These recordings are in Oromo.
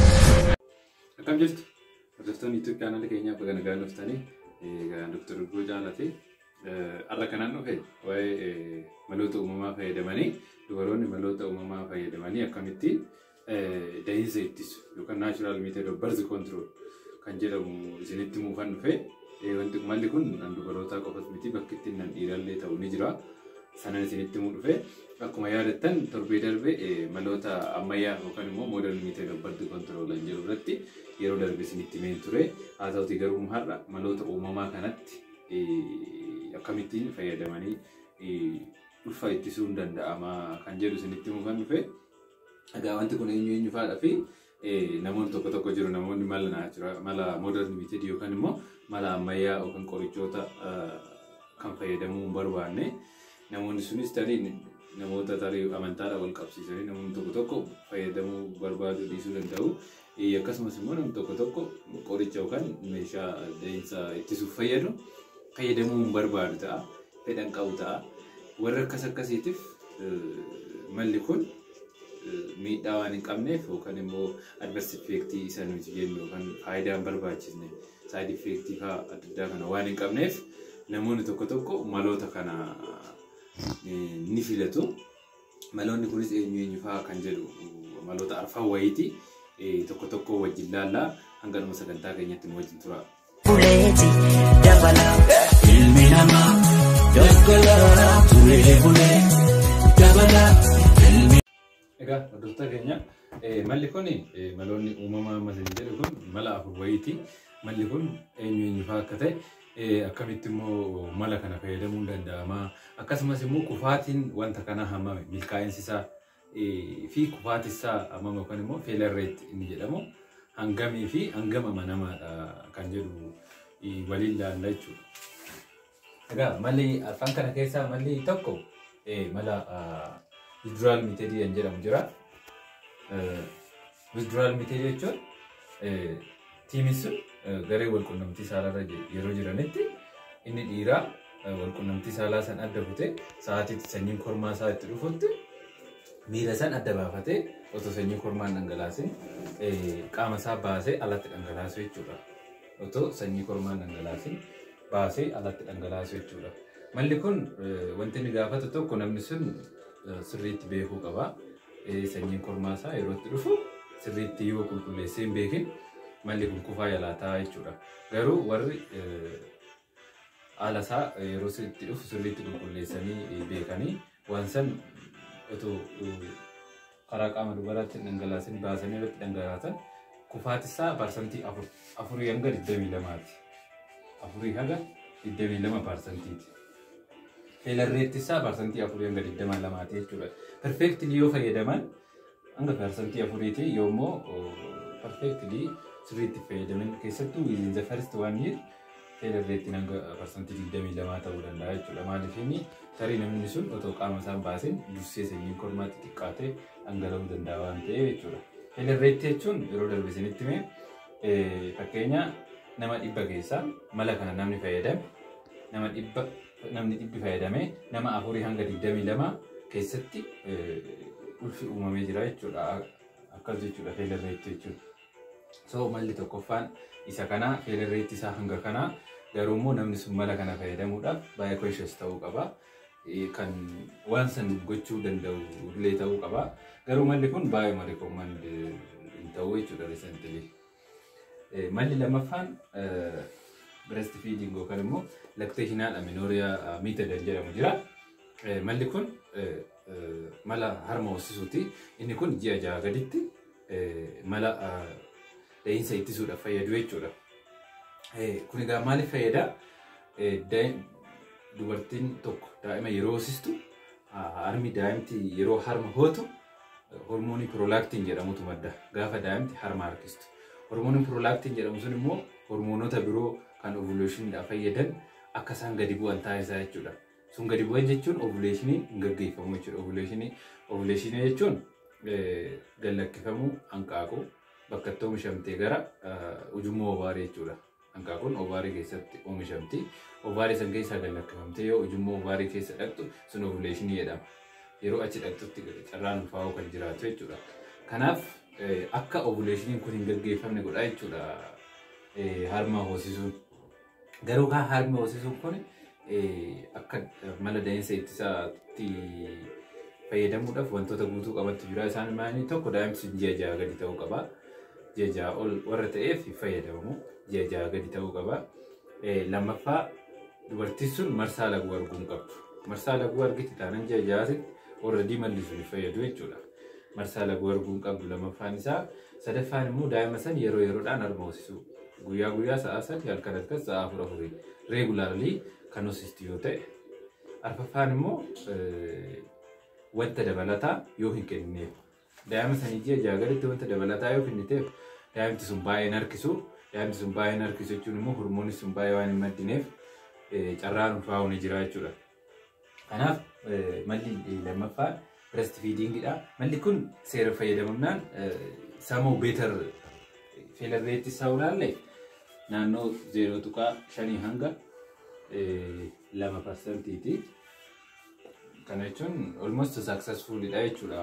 Akkam jirtu? Hordoftoonni YouTube chaanaalii keenyaa baga nagaan dhuftanii egaa Dr. Dubroo Jaalatee har'a kanaan dhufe waa'ee maloota uumamaa fayyadamanii dubaroonni maloota uumamaa fayyadamanii akkamitti dahinsa ittisu yookaan naachuraal meetod of barzi kontirool kan jedhamu isinitti muufan dhufe. Wanti malli kun kan dubarootaa qofas miti bakki itti nan dhiirallee ta'u ni jira. Sanan isinitti muu dhufe. Akkuma yaadattan torbee darbe maloota ammayyaa yookaan immoo moodern meetod of barzi kontirool kan jedhu irratti yeroo darbe isinitti meen ture. Haa ta'uti garuu har'a maloota uumamaa kanatti akkamittiin fayyadamanii ulfa ittisuun danda'ama kan jedhu isinitti muufan dhufe. Egaa wanti kun eenyu eenyu faadha fi namoonni tokko tokko jiru namoonni mala naa jira mala modern method yookaan immoo mala ammayyaa yookaan qorichoota kan fayyadamuu hin barbaanne namoonni sunis tarii namoota tarii amantaadhaan wal qabsiisanii namoonni tokko tokko fayyadamuu barbaaduu dhiisuu danda'u. Ee, Akkasumas immoo namni tokko tokko qoricha yookaan meeshaa da'insa ittisuuf fayyadu fayyadamuu hin barbaadu ta'a. Fedha hin qabu ta'a. Warra akkas akkasiitiif eh, malli kun eh, miidhaa waan hin qabneef yookaan immoo adverse effect isa nuti jennu yookaan faayidaa hin barbaachisne side effect faa adda addaa kana waan hin qabneef namoonni tokko tokko maloota kana eh, ni filatu. Maloonni kunis eenyu eenyu fa'aa kan jedhu maloota arfan wayiiti. Eh, Tokko tokko wajjin laalla hanga dhuma sagantaa keenyatti nu wajjin tura. buleeti dabala ilmi namaa doggola turee bulee dabala ilmi Egaa hordoftoota keenya eh, malli kun eh, maloonni uumamaa mala hin jedhu kun mala afur wayiiti. Malli kun eenyu eenyu fa'aa akka ta'e Eh, akkamitti immoo mala kana fayyadamuun danda'ama akkasumas immoo kufaatiin wanta kanaa hammame milkaa'insi isaa eh, fi kufaatii isaa hammame yookaan immoo failure rate inni jedhamu hangamii fi hangam amanamaadha kan jedhu eh, waliin ilaalla jechuudha. Egaa malli afaan kana keessaa malli tokko eh, mala ah, withdrawal method kan jedhamu jira. Eh, Withdrawal miti jechuun tiimiin sun garee walqunnamtii saalaarra yeroo jiranitti inni dhiiraa walqunnamtii saalaa san adda kutee sa'aatiitti sanyiin kormaa isaa itti dhufutti miira san adda baafatee otoo sanyii kormaan dhangalaasin qaama isaa baasee alatti dhangalaasu jechuudha. Otoo sanyii kormaan dhangalaasin baasee alatti dhangalaasu jechuudha. Malli kun wanti inni gaafatu tokko namni sun sirriitti beekuu qaba. Sanyiin kormaa isaa yeroo itti dhufu sirriitti yoo qulqulleessee hin beekin malli kun kufaa yalaataa jechuudha. Garuu warri haala isaa yeroo itti dhufu sirriitti qulqulleessanii beekanii waan san otoo karaa qaama dubaraatti dhangalaasin baasanii irratti dhangalaasan kufaati isaa parsantii afurii hanga digdamii lamaati. Afurii haga digdamii lama parsantiiti. Feelar reetti isaa parsantii afurii hanga digdamaa lamaati jechuudha. Perfeektili yoo fayyadaman hanga parsantii afuriiti yoo immoo perfeektili sirriitti fayyadaman keessattuu within the first one year feelar reettiin hanga parsantii digdamii lamaa ta'uu danda'a jechuudha. Maaliif inni tarii namni sun otoo qaama isaan baaseen dursee sanyiin kormaatti xiqqaatee dhangala'uu danda'a waan ta'eef jechuudha. Feelar reetti jechuun yeroo darbe isinitti mee fakkeenya nama dhibba keessaa mala kana namni fayyadame nama dhibba namni dhibbi fayyadamee nama afurii hanga 22 keessatti ulfi uumamee jira jechuudha. Akkas jechuudha feelerreetti jechuudha. So malli tokkoffaan isa kana feelerreetti isaa hanga kana garuu immoo namni sun mala kana fayyadamuudhaaf baay'ee conscious ta'uu qaba. Kan waan san gochuu danda'u illee ta'uu qaba. Garuu malli kun baay'ee recommend hin ta'u jechuudha recently. Malli lammaffaan breast feeding yookaan immoo lactation haadha minooriyaa method jedhamu jira. Malli kun mala harma hoosisuuti. Inni kun ji'a jaha gaditti mala da'iinsa ittisuudhaaf fayyadu jechuudha. Kun egaa maaliif fayyada? Dubartiin tokko daa'ima yeroo hoosistu harmi daa'imti yeroo harma hootu hormoonii piroolaaktiin jedhamutu madda gaafa daa'imti harma harkistu. Hormooniin piroolaaktiin jedhamu sun immoo hormoonota biroo kan ovuleeshiniidhaaf fayyadan akka isaan gadi bu'an taasisaa jechuudha. Sun gadi bu'an jechuun ovuleeshinii hin gaggeeffamu jechuudha. Ovuleeshinii ovuleeshinii jechuun gallakkifamuu hanqaaquu bakka itti oomishamtee gara ujummoo obaarii jechuudha. Hanqaaquun ovaarii keessatti oomishamti. Ovaarii san keessaa gad lakkifamtee yoo ujummoo ovaarii keessa dhaqxu sun ovuleeshinii jedhama. Yeroo achi dhaqxutti carraan ulfaa'uu kan jiraatu jechuudha. Kanaaf akka ovuleeshiniin kun hin gaggeeffamne godha jechuudha harma hoosisuun. Garuu kaa harmi hoosisuun kun akka mala da'iinsa ittisaatti fayyadamuudhaaf wantoota guutuu qabattu jira. Isaan maanii tokko daa'imti ji'a ja'a gadi ta'uu qaba. Ji'a ja'a ol warra ta'eef fayyadamamu ji'a ja'a gadi ta'uu qaba. Lammaffaa dubartiin sun marsaa laguu arguu hin qabdu. Marsaa laguu argite taanaan ji'a ja'aatti warra diimalli sun fayyadu jechuudha. marsaa laguu arguu hin qabdu lamaffaan isaa sadaffaan immoo daa'ima san yeroo yeroodhaan harma hoosisuu guyyaa guyyaa sa'aa sadi halkan halkan sa'aa afur afurii reegulaarlii kan hoosistu yoo ta'e arfaffaan immoo wanta dabalataa yoo hin kennineef daa'ima sanii ji'a ja'a gaditti wanta dabalataa yoo kenniteef daa'imti sun baay'ee hin harkisu daa'imti sun baay'ee hin harkisu jechuun immoo hormoonis sun baay'ee waan hin maddineef carraan ulfaa'uu ni jira jechuudha. Kanaaf malli lammaffaa breast feeding dha. Malli kun seera fayyadamummaan samoo beetar feelarreetti isaa ulaalle naannoo 0.5 hanga 2 parsantiiti. Kana jechuun almost successful dha jechuudha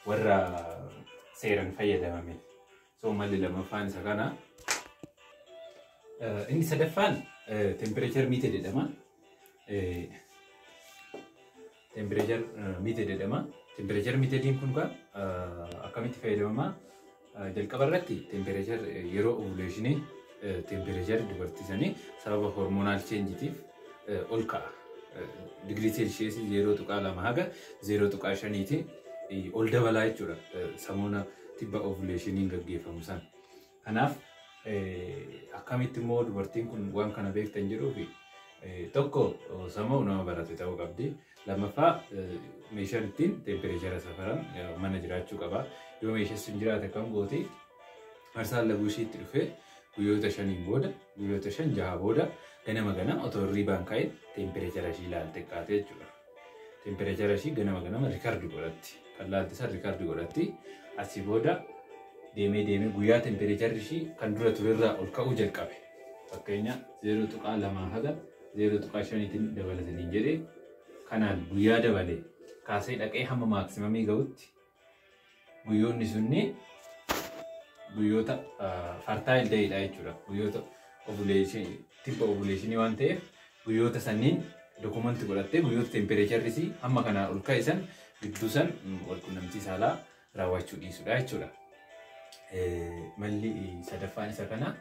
warra seeran fayyadamame. So malli lammaffaan isa kana. Eh, Inni sadaffaan tempireechar miite jedhama. Tempireechar miite jedhama. Tempireechar miitediin kun kaa akkamitti fayyadamama? Eh, Jalqaba irratti tempireechar yeroo ovuleeshinii Teempireechari dubartii sanii sababa hormonaal cheenjitiif ol ka'a. Digirii seelsheesii 0.2 haga 0.5tiin ol dabalaa jechuudha. Samuuna tibba ovuleeshiniin gaggeeffamu sana. Kanaaf akkamitti immoo dubartiin kun waan kana beektan jedhuufi tokko sammuu nama barate ta'uu qabdi. Lammaffaa meeshaan ittiin teempireechara safaran mana jiraachuu qaba. Yoo meeshaan sun jiraate kan goote arsaan laguu ishiitti dhufee guyyoota shaniin booda guyyoota shan jaha booda ganama ganama otoo hirriibaan ka'e teempireechara ishii ilaalte kaate jechuudha. Teempireechara ishii ganama ganama rikardi godhatti. Kan laalte san rikardi godhatti. Asii booda deemee deemee guyyaa teempireecharri ishii kan dura turerraa ol ka'uu jalqabe. Fakkeenya 0.2 haga 0.5 tiin dabala isiniin jedhe kanaan guyyaa dabale kaasee dhaqee hamma maaksimamii ga'utti guyyoonni sunni guyyoota fartaayil ta'edha jechuudha. Guyyoota ovuleeshinii tibba ovuleeshinii waan ta'eef guyyoota sanniin dokumanti godhattee guyyoota tempereecharri isii hamma kanaa ol ka'e san gidduu san wal qunnamtii saalaa raawwachuu dhiisudha jechuudha. Malli sadaffaan isa kana.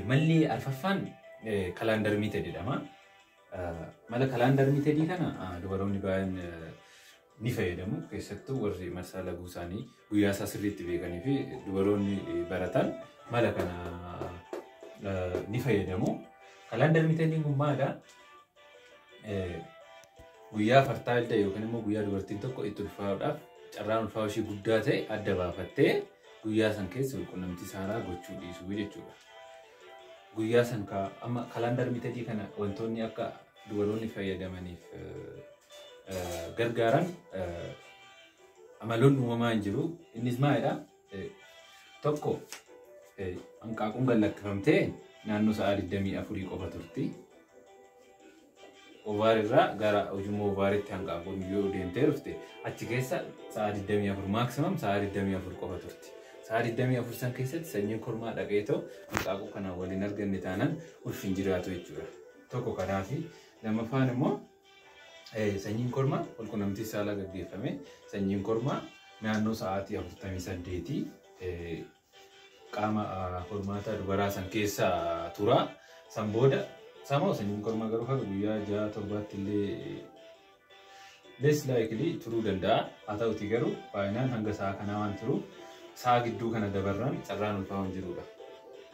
Malli arfaffaan kalaandar miited jedhama. Mala kalaandar miitedii kana dubaroonni baay'een ni fayyadamu. Keessattuu warri marsaa laguu isaanii guyyaa isaa sirriitti beekanii fi dubaroonni baratan mala kana ni fayyadamu. Kalaandar miitediin kun maalidha? Eh, guyyaa fartaa adda yookiin immoo guyyaa dubartiin tokko itti ulfaa'uudhaaf carraan ulfaa'uu ishee guddaa ta'e adda baafattee guyyaa san keessa walqunnamtii saalaa gochuu dhiisuu jechuudha. Guyyaa san ka- amma kalaandar mitadii kana wantoonni akka dubaroonni fayyadamaniif eh, eh, gargaaran eh, amaloonni uumamaa hin jiru. Innis maalidha? Tokko hanqaaquun gad lakkifamtee naannoo sa'aa 24 qofa turti. Ovaar irraa gara ujummoo ovaaritti hanqaaquun yoo deemtee dhufte achi keessa sa'aa 24 maaksimaam sa'aa 24 qofa turti. Sa'aa 24 san keessatti sanyiin kormaa dhaqee too hanqaaquu kanaan waliin arganne taanaan ulfi hin jiraatu jechuudha. Tokko kanaafi lammaffaan immoo Sanyiin kormaa walqunnamtii saalaa gaggeeffame sanyiin kormaa naannoo sa'aatii 48 qaama hormaataa dubaraa san keessa tura. San booda samoo sanyiin kormaa garuu haga guyyaa ja'a torbaatti illee less likely turuu danda'a. Haa ta'uti garuu baay'inaan hanga sa'a kanaa waan turuuf sa'a gidduu kana dabarraan carraan ulfaa hin jirudha.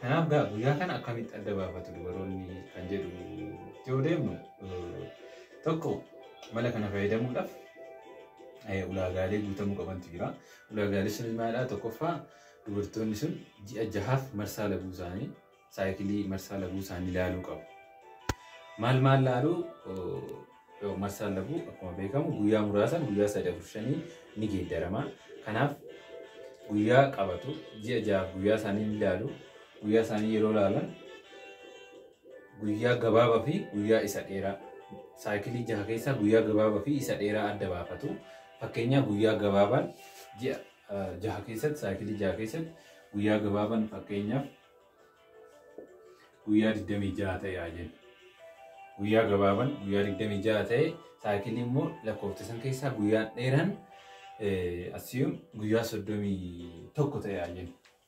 Kanaaf guyyaa kana akkamitti adda baafatu dubaroonni kan jedhu yoo deemnu Tokko mala kana fayyadamuudhaaf ulaagaalee guutamuu qabantu jira. Ulaagaalee sun maalidhaa? Tokkoffaa dubartoonni sun ji'a jahaaf marsaa laguu isaanii saayikilii marsaa laguu isaanii ilaaluu qabu. Maal maal ilaaluu? Marsaa laguu akkuma beekamu guyyaa muraasaan guyyaa sadii afur shanii ni geeddarama. Kanaaf guyyaa qabatu ji'a jahaaf guyyaa isaanii ni ilaalu. Guyyaa isaanii yeroo ilaalan Guyyaa gabaabaa fi guyyaa isa dheeraa. Saayikilii jaha keessaa guyyaa gabaabaa fi isa dheeraa adda baafatu. Fakkeenyaa guyyaa gabaabaan ji'a jaha keessatti saayikilii jaha keessatti guyyaa gabaabaan fakkeenyaaf guyyaa 26 ta'e haa jennu. Guyyaa gabaabaan guyyaa 26 ta'e saayikilii immoo lakkoofta san keessaa guyyaan dheeraan asiyuun guyyaa 31 ta'e haa jennu.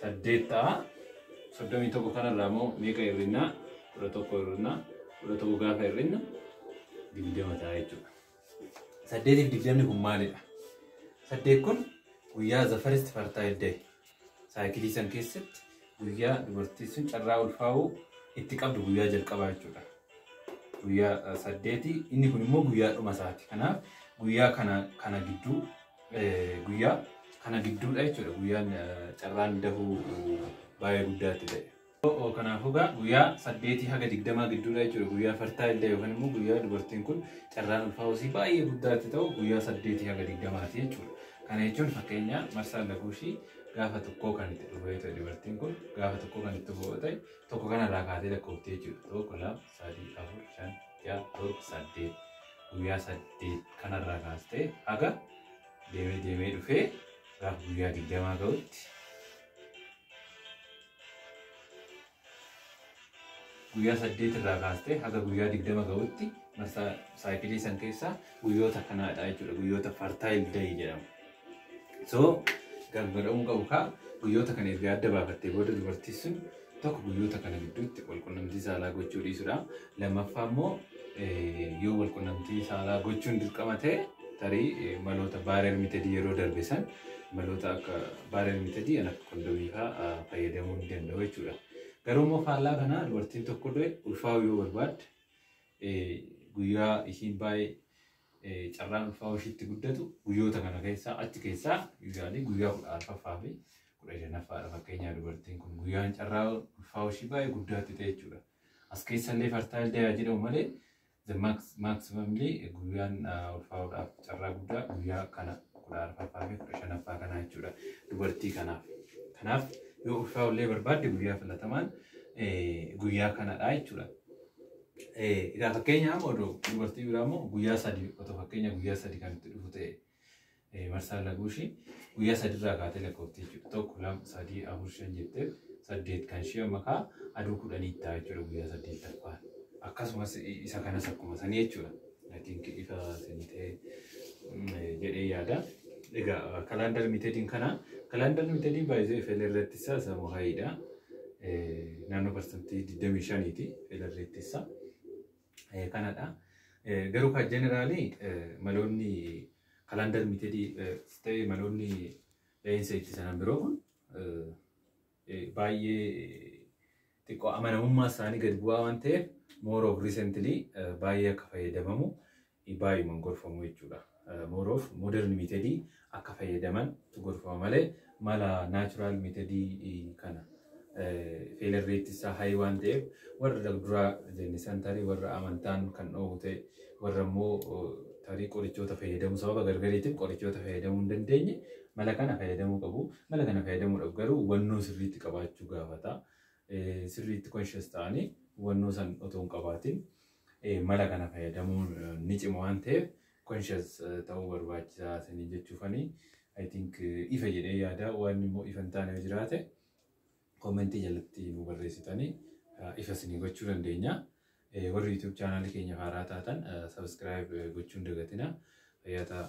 saddeet ta'a. Soddomii tokko kanarraa immoo meeqa hir'inna? Kudha tokko hir'inna. Kudha tokko gaafa hir'inna digdama ta'a jechuudha. Saddeetiif digdamni kun maalidha? Saddeet kun guyyaa the first fertile day saayikilii san keessatti guyyaa dubartiin sun carraa ulfaa'uu itti qabdu guyyaa jalqabaa jechuudha. Guyyaa eh, saddeeti inni kun immoo guyyaa dhuma isaati. Kanaaf guyyaa kana kana gidduu guyyaa kana gidduudha jechuudha guyyaan carraan dahuu baay'ee guddaatti ta'e. Kanaafuu egaa guyyaa saddeetii haga digdamaa gidduudha jechuudha guyyaa fartaa illee yookaan immoo guyyaa dubartiin kun carraan ulfaa hosii baay'ee guddaatti ta'u guyyaa saddeetii haga digdamaati jechuudha. Kana jechuun fakkeenyaa marsaan laguu ishii gaafa tokkoo kan itti dhufee ta'e dubartiin kun gaafa tokkoo kan itti dhufee ta'e tokko kanarraa kaatee lakkoofte jechuudha. Tokko lama sadii, afur, shan, ja'a, torba, saddeet. Guyyaa saddeet kanarraa kaastee haga deemee deemee dhufee gaafa guyyaa digdamaa ga'utti guyyaa saddeet irraa kaastee haga guyyaa digdama ga'utti marsaa saayikilii san keessaa guyyoota kanaadha jechuudha. Guyyoota fartaayil dayii jedhamu. So galma dha'uun qabu kaa guyyoota kana erga adda baafattee booda dubartii sun tokko guyyoota kana gidduutti walqunnamtii saalaa gochuu dhiisudha. Lammaffaa immoo yoo walqunnamtii saalaa gochuun dirqama ta'e tarii maloota baarer mitadii yeroo darbe san maloota akka baarer mitadii kan akka kondomii fa'aa fayyadamuu ni danda'u jechuudha. Garuu immoo faallaa kanaa dubartiin tokko illee ulfaa'uu yoo barbaadde guyyaa ishiin baay'ee Carraan ulfaa'uu ishiitti guddatu guyyoota kana keessaa achi keessaa yuuzaalii guyyaa kudha arfaffaa fi kudha shanaffaadha fakkeenyaa dubartiin kun guyyaan carraa ulfaa'uu ishii baay'ee guddaatti ta'e jechuudha. As keessallee fartaayil dayaa jedhamu malee the maximumly guyyaan ulfaa'uudhaaf carraa guddaa guyyaa kana kudha arfaffaa fi kudha shanaffaa kanaa jechuudha dubartii kanaaf. Kanaaf yoo ulfaa'ullee barbaadde guyyaa filatamaan guyyaa kanadha jechuudha. Egaa fakkeenyaaf oduu dubartii biraa immoo guyyaa sadii otoo fakkeenya guyyaa sadii kan itti dhufu ta'e marsaan laguu ishii guyyaa sadii irraa kaatee lakkoofti jechuudha. Tokko lama sadii afur shan jettee saddeet kan ishii amma kaa aduu kudhanii itti ta'a jechuudha guyyaa saddeettaffaan. Akkasumas isa kanas akkuma sanii jechuudha. I think ifa isinii ta'e jedhee yaada. Egaa kalaandar mitediin kana kalaandar mitediin baay'ee FL irratti isaa isa muhaayiidha. Naannoo parsantii 25 ti FL irratti isaa. Kanadha. Garuu kan jeneraalii maloonni kalaandar mitedii ta'e maloonni dha'iinsa itti sanan biroo kun baay'ee xiqqoo amanamummaa isaanii gad bu'aa waan ta'eef more of recently baay'ee akka fayyadamamu baay'uman gorfamu jechuudha. More of modern method akka fayyadaman gorfama malee mala natural method kana failure rate isaa high waan ta'eef warra dura jenne san tarii warra amantaan kan dhoowwu ta'e warra immoo tarii qorichoota fayyadamu sababa gargariitiin qorichoota fayyadamuu hin dandeenye mala kana fayyadamuu qabu. Mala kana fayyadamuudhaaf garuu hubannoo sirriitti qabaachuu gaafata. Sirriitti conscious ta'anii hubannoo san otoo hin qabaatin mala kana fayyadamuun ni cima waan ta'eef conscious ta'uu barbaachisaa sanii jechuufanii I think ifa jedhee yaada waan immoo ifa hin taane yoo jiraate koomentii jalatti nu barreessitanii ifa isinii gochuu dandeenya. Warri YouTube chaanaalii keenya haaraa taatan subscribe gochuun dagatina. Fayyaa ta'aa.